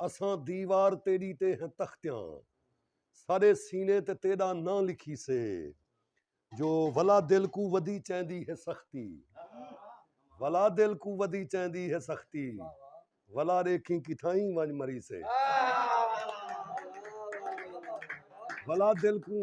اساں دیوار تیݙی تے ہیں تختیاں ساݙے سینے تے تیݙا ناں لکھیسے جو ولا دل کوں ودی چیندی ہے سختی ولا دل کوں ودی چیندی ہے سختی ولا ݙیکھیں کتھائیں ونڄ مریسے ولا دل کوں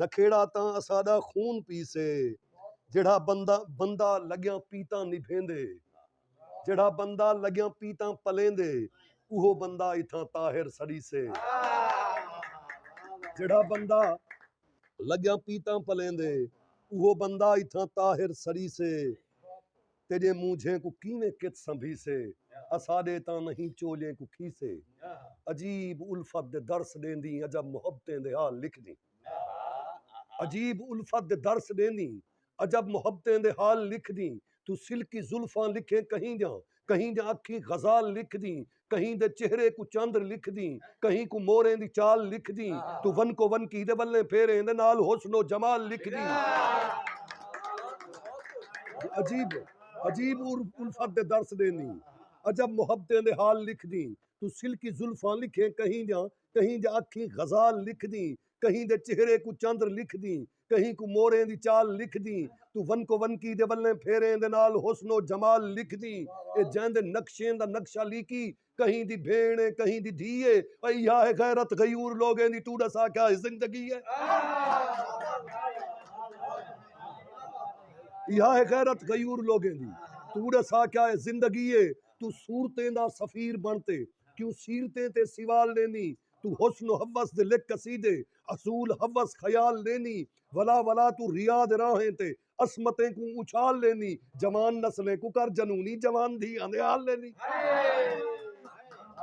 نکھیڑا تاں اساݙا خون پیسے جیڑھا بندہ لڳیاں پیتاں نبھیندے جیڑھا بندہ لڳیاں پیتاں پلیندے اوہو بندہ اتھاں طاہر سڑیسے جیڑھا بندہ لڳیاں پیتاں پلیندے اوہو بندہ اتھاں طاہر سڑیسے۔ تیݙے مونجھیں کوں کیویں کت سنبھیسے اساݙے تاں نہیں چولیں کوں کھیسے عجیب الفت دے درس ݙیندیں عجب محبتیں دے حال لکھدیں عجیب الفت دے درس ݙیندیں عجب محبتیں دے حال لکھدیں توں سلکی زلفاں لکھیں کہیں دیاں کہیں دیاں اکھیں غزال لکھدیں کہیں دے چہرے کوں چاندر لکھ دیں کہیں کوں موریں دی چال لکھ دیں تو ون کو ون کی دے ولیں پھیریں دے نال حسن و جمال لکھ دیں عجیب عجیب الفت دے درس دیں دیں عجب محبتیں دے حال لکھ دیں تو سلکی زلفاں لکھیں کہیں دیاں کہیں دے اکھیں غزال لکھ دیں کہیں دے چہرے کوں چاندر لکھ دیں کہیں کوں موریں دی چال لکھدیں توں ونکو ونکی دے ولیں پھیریں دے نال حسن و جمال لکھدیں اے جیں دے نقشیں دا نقشہ لیکی کہیں دی بھیݨ اے کہیں دی دھی اے او ایہا ہے غیرت غیور لوگیں دی توں ݙسا کیا ہے زندگی اے ایہا ہے غیرت غیور لوگیں دی توں ݙسا کیا ہے زندگی اے توں صورتیں دا سفیر بݨ تے کیوں سیرتیں تے سوال ݙیندیں توں حسن و حوس دے لکھ قصیدے اصول حوس خیال ݙینی ولا ولا توں ریا دے راہیں تے عصمتیں کوں اچھال ݙینی جوان نسلیں کوں کر جنونی جوان دھیاں دے حال ݙینی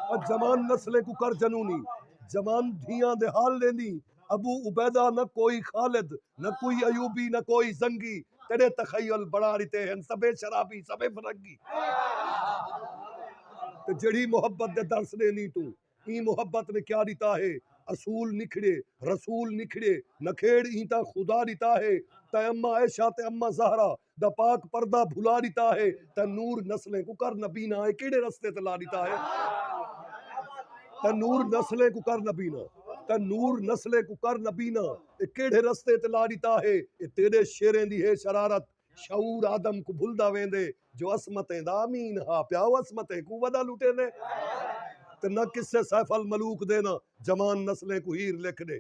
او جوان نسلیں کوں کر جنونی جوان دھیاں دے حال ݙینی ابو عبیدہ نہ کوئی خالد نہ کوئی ایوبی نہ کوئی زنگی تیݙے تخیل بݨا ݙتے ہن سبھے شرابی سبھے فرنگی تے جیڑھی محبت دے درس ݙینی توں ایں محبت نے کیا ݙتا ہے اصول نکھڑیے رسول نکھڑیے نکھیڑ ایں تاں خدا ݙتا ہے تیں اماں عائشہ تے اماں زہرا دا پاک پردہ بھلا ݙتا ہے تیں نور نسلیں کوں کر نبینا اے کیڑھے رستے تے لا ݙتا ہے تیں نور نسلیں کوں کر نبینا تیں نور نسلیں کوں کر نبینا اے کیڑھے رستے تے لا ݙتا ہے اے تیݙے شعریں دی ہے شرارت شعور آدم کوں بھلدا ویندے جو عصمتیں دا امین ہا پیا او عصمتیں کوں ودا لٹیندے تے نہ قصے سیف الملوک دے نہ جوان نسلیں کوں ہیر لکھ ڈے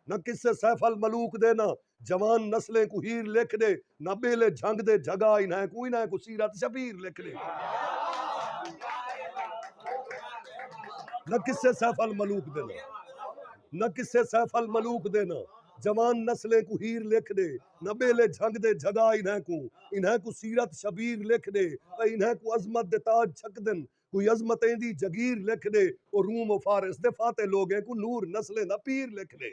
نہ قصے سیف الملوک دے نہ جوان نسلیں کوں ہیر لکھ ڈے نہ بیلے جھنگ دے جھگا انہائیں کوں انہائیں کوں سیرت شبیر لکھ ڈے نہ قصے سیف الملوک دے نہ نہ قصے سیف الملوک دے نہ جوان نسلیں کوں ہیر لکھ ڈے نبیلے جھڳ دے جھڳا انھیں کوں انھیں کوں سیرت شبیر لکھ ݙے تے انھیں کوں عظمت دے تاج چھکدن کوئی عظمت ایندی جگیر لکھ ݙے او روم و فارس دے فاتح لوگیں کوں نور نسلیں دا پیر لکھ ݙے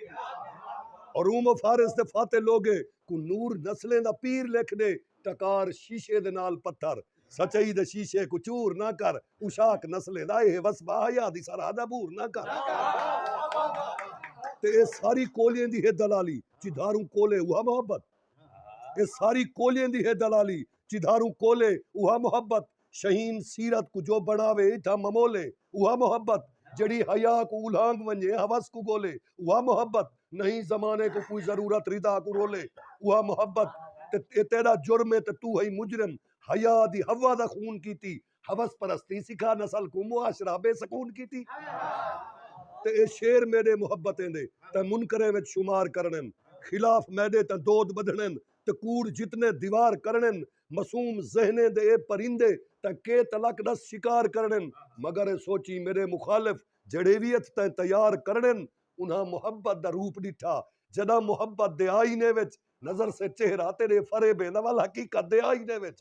او روم و فارس دے فاتح لوگیں کوں نور نسلیں دا پیر لکھ ݙے ٹکار شیشے دے نال پتھر سچائی دے شیشے کوں چور نہ کر عشاق نسلیں دا ایہے وسبا حیا دی سرحد عبور نہ کر تے ایہ ساری کولھیں دی ہے دلالی۔ چدھاروں کولے اوہا محبت اے ساری کولیں دی ہے دلالی چدھاروں کولے اوہا محبت شہین سیرت کوں جو بنڑاوے ایڈھا ممولے اوہا محبت جیڑھی حیا کوں الہانگ ونجے حوس کوں گولے اوہا محبت نہیں زمانے کوں کوئی ضرورت ردا کوں رولے اوہا محبت اے تیڈا جرم اے تے تو ہئی مجرم حیا دی حوا دا خون کیتی حوث پرستی سکھا نسل کوں معاشرہ بے سکون کیتی تے اے شعر میڈے محبتیں دے تے منکریں وچ شمار کرنن خلاف میڈے تے دود بدھنن تے کوڑ جتنے دیوار کرنن معصوم ذہنیں دے اے پرندے تے کے تلک ڈس شکار کرنن مگر اے سوچیں میڈے مخالف جیڈے وی ات تے تیار کرنن انہاں محبت دا روپ ڈٹھا جڈاں محبت دے آئینے وچ نظر سے چہرہ تیرے فرے بے نوال حقیقت دے آئی دے وچ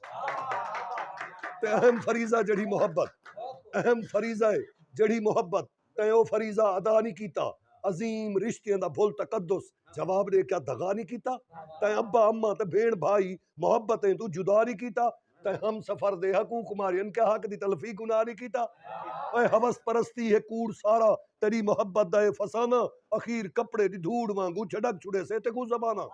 تے اہم فریضہ جڑی محبت اہم فریضہ ہے جڑی محبت تے او فریضہ ادا نہیں کیتا عظیم رشتیاں دا بھول تقدس جواب دے کیا دھگا نہیں کیتا تے ابا اما تے بھین بھائی محبتیں تو جدا نہیں کیتا تے ہم سفر دے حقوق مارے ان کے حق دی تلفی گناہ نہیں کیتا اے حوث پرستی ہے کوڑ سارا تیری محبت دا اے فسانہ اخیر کپڑے دی دھوڑ وانگو چھڑک چھڑے سے تے کو زمانہ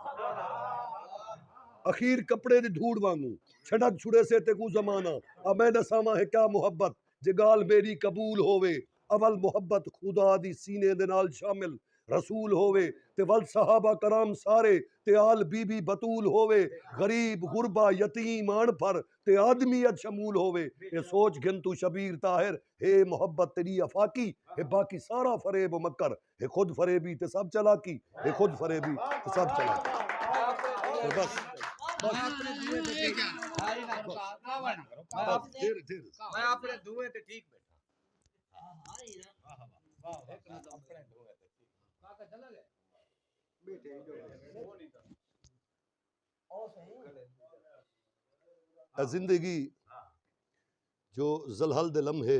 اخیر کپڑے دی دھوڑ وانگو چھڑک چھڑے سے تے کو زمانہ اب میں دساواں ہے کیا محبت جے ڳالھ میݙی قبول ہووے اول محبت خدا دی سینے دے نال شامل رسول ہووے تے ول صحابہ کرام سارے تے آل بی بی بتول ہووے غریب غربا یتیم اݨ پھر تے آدمیت شمول ہووے اے سوچ گھن توں شبیر طاہر ہے محبت تیݙی افاقی ہے باقی سارا فریب و مکر ہے خود فریبی تے سب چالاکی ہے خود فریبی تے سب چالاکی زندگی جو زلہل دے لمحے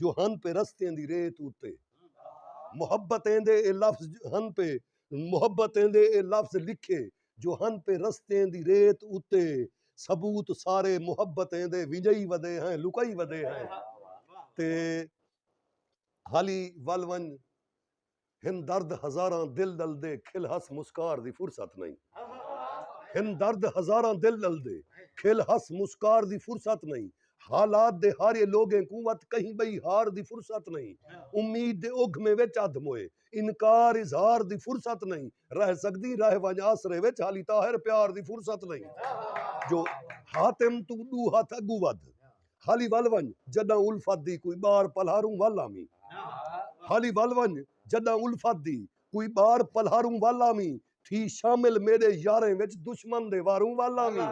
جو ہن پے رستیں دی ریت اتے محبت ایندے اے لفظ ہن پے محبت ایندے اے لفظ لکھے جو ہن پے رستیں دی ریت اتے ثبوت سارے محبت ایندے ونجئی ودے ہیں لکئی ودے ہیں تے حالی ول ونج ہن درد ہزاراں دل ݙلدے کھل ہس مسکار دی فرصت نئیں ہن درد ہزاراں دل ݙلدے کھل ہس مسکار دی فرصت نئیں حالات دے ہارے لوگیں کوں وت کہیں ٻئی ہار دی فرصت نئیں امید دے اگھمے وچ ادھ موئے انکار اظہار دی فرصت نئیں رہ سڳدیں رہ ونڄ آسرے وچ ہالی طاہر پیار دی فرصت نئیں جو حاتم توں ݙو ہتھ اڳوں ودھ ہالی ول ونڄ جݙاں الفت دی کوئی ٻار پلہاروں ول آویں ہالی ول ونڄ جݙاں الفت دی کوئی ٻار پلہاروں ول آویں تھی شامل میݙے یاریں وچ دشمن دے واروں ول آویں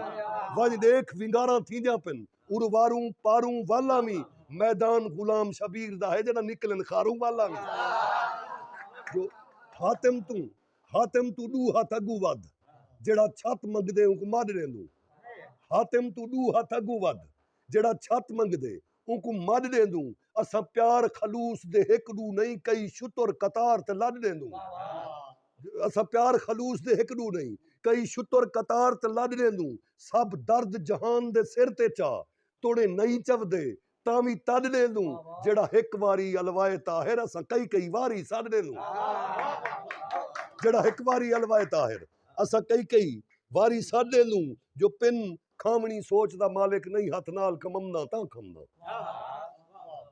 ونڄ ݙیکھ ونگاراں تھیندیاں پن ارواروں پاروں ول آویں میدان غلام شبیر دا ہے جݙاں نکلن خاروں ول آویں جو حاتم توں حاتم توں ݙو ہتھ اڳوں ودھ۔ جیڑھا چھت منگدے اونکوں مݙ ݙیندوں۔ حاتم توں ݙو ہتھ اڳوں ودھ۔ جیڑھا چھت منگدے اونکوں مݙ ݙیندوں۔ اساں پیار خلوص دے ہک ݙو نئیں کئی شتر قطار تے لݙ ݙیندوں۔ اساں پیار خلوص دے ہک ݙو نئیں کئی شتر قطار تے لݙ ݙیندوں۔ سب درد جہان دے سر تے چا توڑیں نئیں چودے تاں وی تݙ ݙیندوں جیڑھا ہک واری الوائے طاہر اساں کئی کئی واری سݙ ݙیندوں جیڑھا ہک واری الوائے طاہر اساں کئی کئی واری سݙ ݙیندوں جو پن کھاوݨی سوچ دا مالک نئیں ہتھ نال کممداں تاں کھمداں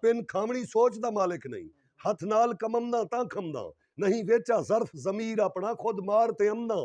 پن کھاوݨی سوچ دا مالک نئیں ہتھ نال کممداں تاں کھمداں نئیں ویچا ظرف ضمیر اپݨا خود مار تے امداں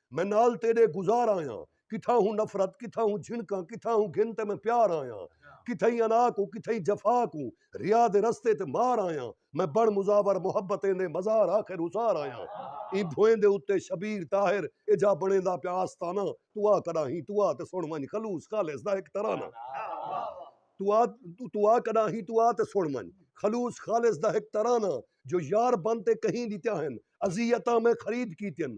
میں نال تیرے گزار آیاں کتھاں ہوں نفرت کتھاں ہوں جھنکاں کتھاں ہوں گھن تے میں پیار آیاں کتھاں ہی انا کو کتھاں ہی جفا کو ریا دے رستے تے مار آیاں میں بن مزاور محبتیں دے مزار آخر اسار آیاں ایں بھوئیں دے اتے شبیر طاہر اے جا بنیندا پیا آستانہ تو آ کڈا ہی تو آ تے سن ونج خلوص خالص دا ہک ترانہ تو آ تو آ کڈا ہی تو آ تے سن ونج خلوص خالص دا ہک ترانہ جو یار بن تے کہیں ڈتیا ہن اذیتاں میں خرید کیتین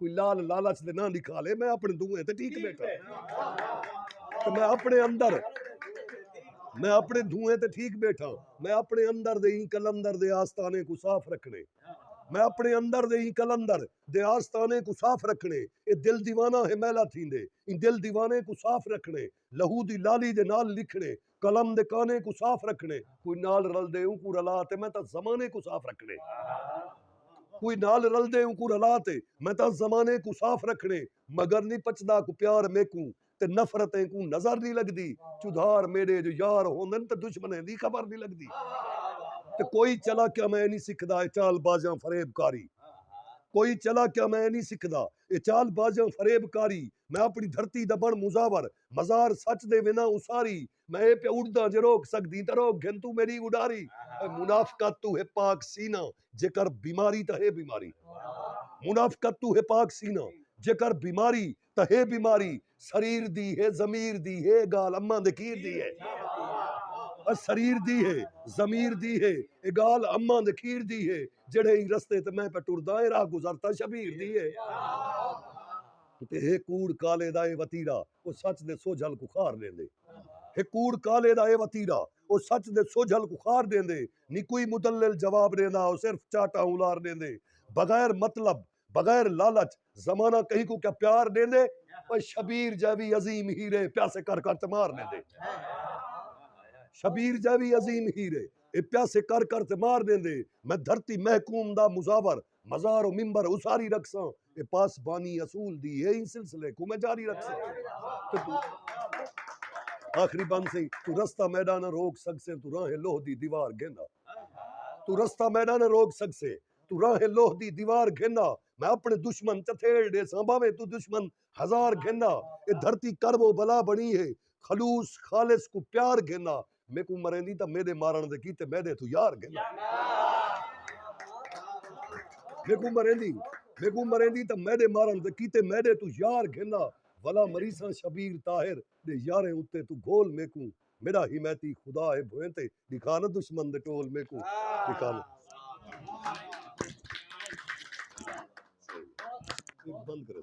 کوئی لال لالچ دے نہ لکھا لے میں اپنے دوئے تے ٹھیک بیٹھا تو میں اپنے اندر میں اپنے دوئے تے ٹھیک بیٹھا میں اپنے اندر دے ہی کلندر دے آستانے کو صاف رکھنے میں اپنے اندر دے ہی کلندر دے آستانے کو صاف رکھنے اے دل دیوانہ ہے میلہ تھیندے اے دل دیوانے کو صاف رکھنے لہو دی لالی دے نال لکھݨے قلم دے کانے کوں صاف رکھݨے کوئی نال رلدے اونکوں رلا تے میں تاں زمانے کوں صاف رکھݨے کوئی نال رلدے اونکوں رلا تے میں تاں زمانے کوں صاف رکھݨے مگر نی پچدا کو پیار میکوں تے نفرت اینکوں نظر نی لگدی چدھار میݙے جو یار ہوندن تے دشمنیں دی خبر نی لگدی تے کوئی چلاکیاں میں نی سکھدا اے چال بازیاں فریب کاری کوئی چلاکیاں میں نی سکھدا۔ اے چال بازیاں فریب کاری میں اپݨی دھرتی دا بݨ مزاور مزار سچ دے وینداں اساری میں اے پیا اݙداں جے روک سڳدیں تاں روک گھن توں میݙی اݙاری اے منافقت توں ہے پاک سینہ جے کر بیماری تاں ہے بیماری منافقت توں ہے پاک سینہ جے کر بیماری تاں ہے بیماری۔ سریر دی ہے ضمیر دی ہے گال اماں دے کھیر دی ہے اور سریر دی ہے ضمیر دی ہے اے گال اماں دے کھیر دی ہے جڑے ہی رستے تے میں پہ ٹردا اے راہ گزرتا شبیر دی ہے تے ہے کوڑ کالے دا اے وتیرا او سچ دے سوجھل کو خار دیندے ہے کوڑ کالے دا اے وتیرا او سچ دے سوجھل کو خار دیندے نی کوئی مدلل جواب دیندا او صرف چاٹا اولار دیندے بغیر مطلب بغیر لالچ زمانہ کہیں کوں کیا پیار ڈیندے اوئے شبیر جیوی عظیم ہیرے پیاسے کر کر تے مار ڈیندے شبیر جیوی عظیم ہیرے اے پیاسے کر کر تے مار ڈیندے میں دھرتی محکوم دا مزاور مزار و ممبر اساری رکھساں اے پاسبانی اصول دی اے ایں سلسلے کوں میں جاری رکھساں آخری بند سی تو رستہ میڈا نہ روک سکسے تو راہیں لوہ دی دیوار گھن آ تو رستہ میڈا نہ روک سکسے توں راہیں لوہ دی دیوار گھن آ میں اپݨے دشمن چتھیڑ ݙیساں بھانویں توں دشمن ہزار گھن آ اے دھرتی کرب و بلا بݨی ہے خلوص خالص کوں پیار گھن آ میکوں مریندیں تاں میݙے مارݨ دے کیتے میݙے توں یار گھن آ میکوں مریندیں میکوں مریندیں تاں میݙے مارݨ دے کیتے میݙے توں یار گھن آ ولا مریساں شبیر طاہر دے یاریں اتے توں گھول میکوں میݙا حمایتی خدا ہے بھوئیں تے ݙکھا نہ دشمن دے ٹول میکوں ݙکھا نہ بند کرے